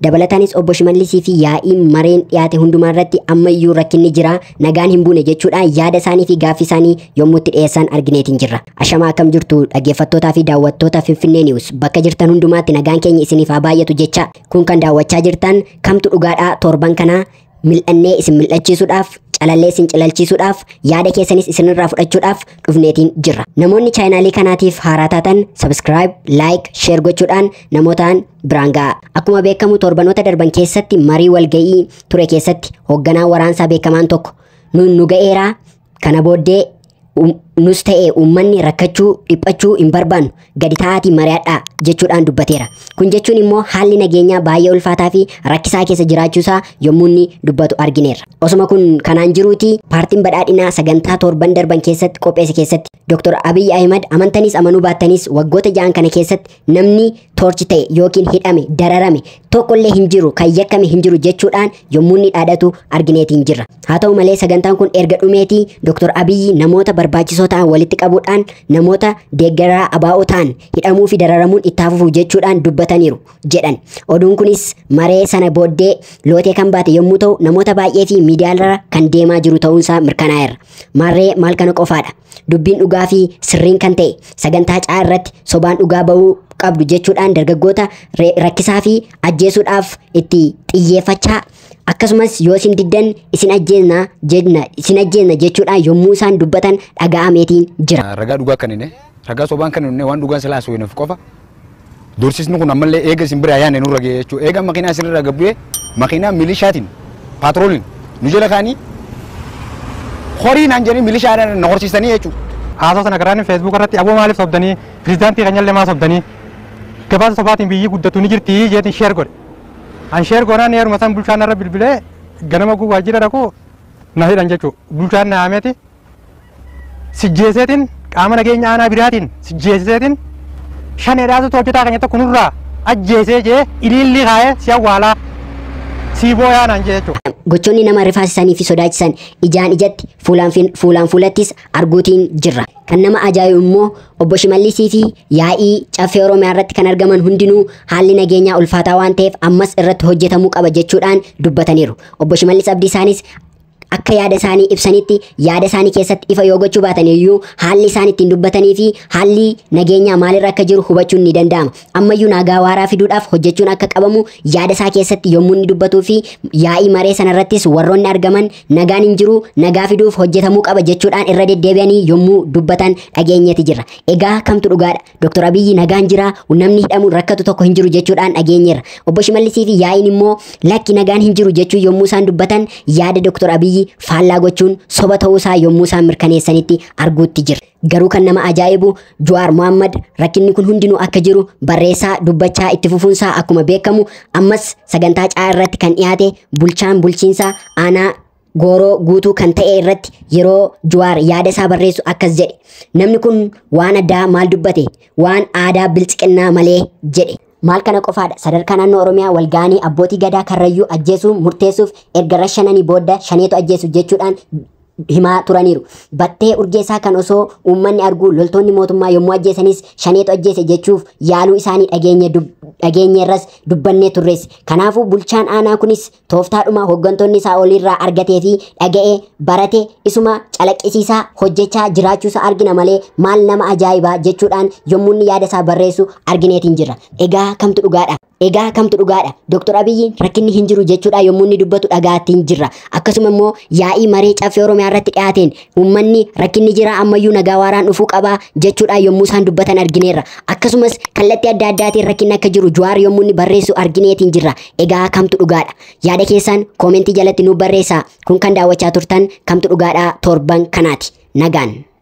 Dabalataanis obbo Shimallisii fi yaa'ii mareen dhiyaate hundumaa irratti ammayyuu rakkinni jira nagaan hin buune jechuudhaan yaada isaanii fi gaaffii isaanii yommuu itti dhiyeessan argineetiin jirra. Ashamaa akkam jirtu dhaggeeffattootaa fi daawwattoota Finfinnee News bakka jirtan hundumaatti nagaan keenya isiniif haa baay'atu jecha kun kan daawwachaa jirtan kamtu dhugaadhaa torban kanaa Mil'annee isin mil'achiisuudhaaf, calallee isin cilalchiisuudhaaf, yaada keessanis isinirraa fudhachuudhaaf dhufneetiin jirra. Namoonni chaayinaalii kanaatiif haaraa taatan subscribe, like, share gochuudhaan namootaan biraan ga'a. Akkuma beekamu torbanoota darban keessatti marii walga'ii ture keessatti hoogganaan waraansaa beekamaan tokko nuun nu ga'eeraa Kana booddee um- nus ta'e uummanni rakkachuu, dhiphachuu hin barbaannu gadi taa'aatii mari'adhaa jechuudhaan dubbateera. Kun jechuun immoo haalli nageenyaa baay'ee ulfaataa fi rakkisaa keessa jiraachuusaa yommuu inni dubbatu argineerra. Osuma kun kanaan jiruuti paartiin badhaadhinaa sagantaa torban darban keessatti qopheesse keessatti Dr. Abiy Ahimad amantanis amanuu baattanis waggoota ja'an kana keessatti namni toorchi ta'e yookiin hidhame dararame tokkollee hin jiru kan yakkame hin jiru jechuudhaan yommuu inni dhaadatu argineetiin jirra. Haa ta'u malee sagantaan kun erga dhumeetii Dr. Abiyyi namoota barbaachisoo ta'an walitti qabuudhaan namoota deeggaraa abaa'oo ta'an hidhamuu fi dararamuun itti hafuuf jechuudhaan dubbataniiru jedhan. Oduun kunis maree sana booddee lootee kan baate yommuu ta'u namoota baay'ee fi miidiyaarra kan deemaa jiru ta'uunsaa mirkanaa'eera. Maarree maal kana qofaadha. Dubbiin dhugaa fi sirriin kan ta'e sagantaa caa irratti sobaan dhugaa ba'uu qabdu jechuudhaan dargaggoota re- rakkisaa fi ajjeesuudhaaf itti xiyyeeffachaa akkasumas yoo isin diddan isin ajjeesna jenna isin ajjeesna jechuudhaan yommuu isaan dubbatan dhaga'ameetiin jira. Ragaa dhugaa kan hin ragaa sobaan kan hin waan dhugaan silaa haasawinaf qofa Doorsisni kun ammallee eega isin biraa yaanne nurra ga'e jechuudha. Eega makiinaa isin irraa gabbu'ee makiinaa milishaatiin paatrooliin nu jala kaanii horii naan jedhanii milishaa na horsiisanii jechuudha. Haasoo sana karaan feesbuuk irratti aboo maaliif sobdanii pirezidaantii keenyallee maa sobdanii gabaasa sobaatiin biyyi guddatu ni jirti jeetiin sheer godhe. An sheer goonaan yeruma san bulchaan irra bilbilee ganama guu waajjira dhaqu na hidhan jechuudha. Bulchaan na haameeti sijjeeseetiin qaama nageenya aanaa biraatiin sijjeeseetiin shaneedhaatu hojjetaa keenya tokko nurraa ajjeesee jee iliillii kaa'ee si awwaalaa sii booyaa naan jee jechuudha. Gochoonni nama rifaasisanii fi sodaachisan ijaan ijatti fuulaan fi- fuulaan fuulattis arguutiin jirra. Kan nama ajaa'ibu immoo obbo Shimallisii fi yaa'ii caffee Oromiyaa irratti kan argaman hundinuu haalli nageenyaa ulfaataa waan ta'eef ammas irratti hojjetamuu qaba jechuudhaan dubbataniiru. Obbo Shimallis Abdiisaanis akka yaada isaanii ibsanitti yaada isaanii keessatti ifa yoo gochuu baatan iyyuu haalli isaan ittiin dubbatanii fi haalli nageenyaa maalirra akka jiru hubachuun ni danda'ama. Ammayyuu nagaa waaraa fiduudhaaf hojjechuun akka qabamu yaada isaa keessatti yommuu inni dubbatuu fi yaa'ii maree sanarrattis warroonni argaman nagaan hin jiru nagaa fiduuf hojjetamuu qaba jechuudhaan irra deddeebi'anii yommuu dubbatan dhageenyeeti jirra. Egaa kamtu dhugaadha? Dr. Abiyyi nagaan jira, namni hidhamuun rakkatu tokko hin jiru jechuudhaan dhageenyeerra. Obbo Shimallisii fi yaa'iin immoo lakki nagaan hin jiru jechuu yommuu isaan dubbatan yaada Dr. Abiyyi faallaa gochuun soba ta'uu isaa yommuu isaan mirkaneessanitti arguutti jira. Garuu kan nama ajaa'ibu Juwaar Mohammad rakkinni kun hundinuu akka jiru barreessaa dubbachaa itti fufuunsaa akkuma beekamu ammas sagantaa caa irratti kan dhiyaate bulchaan bulchiinsa aanaa gooroo guutuu kan ta'e irratti yeroo Juwaar yaada isaa barreessu akkas jedhe. Namni kun waan addaa maal dubbate? Waan aadaa bilxiqinnaa malee jedhe. Maal kana qofaadha sadarkaa naannoo Oromiyaa walga'anii abbootii gadaa karrayyuu ajjeesuu murteessuuf erga rashananii booda shaneetu ajjeesu jechuudhaan himaa turaniiru. Battee urgeessaa kan osoo uummanni arguu loltoonni mootummaa yommuu ajjeesanis shaneetu ajjeese jechuuf yaaluu isaanii dhageenye dub- dhageenyeerras dubbannee turres. Kanaafuu bulchaan aanaa kunis Tooftaadhuma hooggantoonni isaa oliirraa argatee fi dhaga'e barate isuma calaqqisiisaa hojjechaa jiraachuusaa argina malee maal nama ajaa'ibaa jechuudhaan yommuu inni yaada isaa barreessu argineetiin jirra. Egaa kamtu dhugaadha? Egaa kamtu dhugaadha? Dooktor Abiyyiin rakkinni hin jiru jechuudhaan yommuu inni dubbatu dhagaattiin jirra. Akkasuma immoo yaa'ii maree caffee Oromiyaa irratti dhiyaateen Uummanni rakkinni jira ammayyuu nagaa waaraan dhufuu qabaa jechuudhaan yommuu isaan dubbatan argineerra. Akkasumas kallattii adda addaatiin rakkinni akka jiru Juwaar yommuu inni barreessu argineetiin jirra. Egaa kamtu dhugaadha? Yaada keessaan koomentii jalatti nuuf barreessaa. Kun kan daawwachaa turtan kamtu dhugaadhaa torban kanaati. Nagaan.